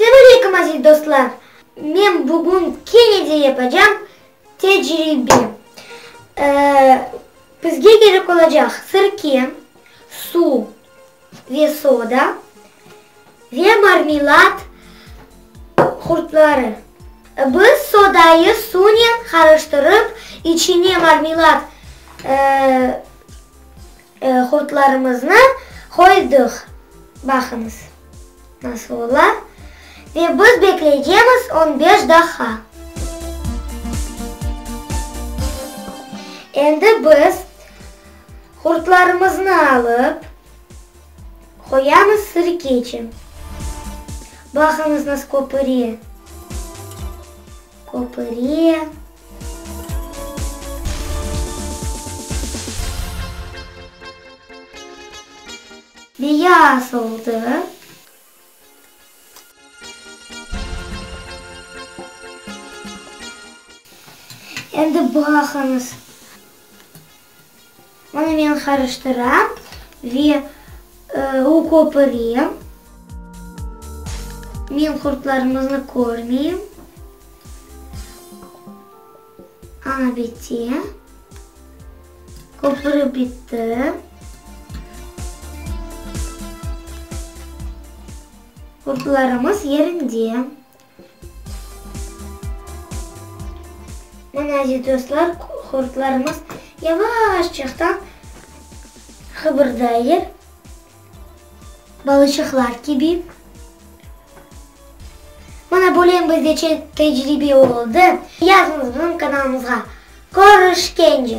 Selam aleyküm aziz dostlar! Men bugün kene de yapacam tecribe. Bizge gerek olacaq sirke, suv ve soda ve marmelat qurtları. Biz sodayı suvnen qarıştırıp içine marmelat Hurtlarımıznı qoydıq, baqıñız, nasıl ola, ve biz bekleycemiz on beş daha. Endi biz hurtlarımıznı alıp, qoyamız sirkeçi. Baqıñız, nasıl köpüre. Köpüre. Biye asıldı. Endi baqıñız. Onı men qarıştıram ve u köpürem. Men qurtlarımıznı körmeyim. Ana bitti. Köpürüv bitti. Qurtlarımız yerinde. Mına aziz dostlar, qurtlarımız yavaşçaqtan qıbırdaylar, balıçıqlar kibi. Mına böyle bizde tecrübe oldı. Yazıñız bizim kanalımızğa. Körüşkence!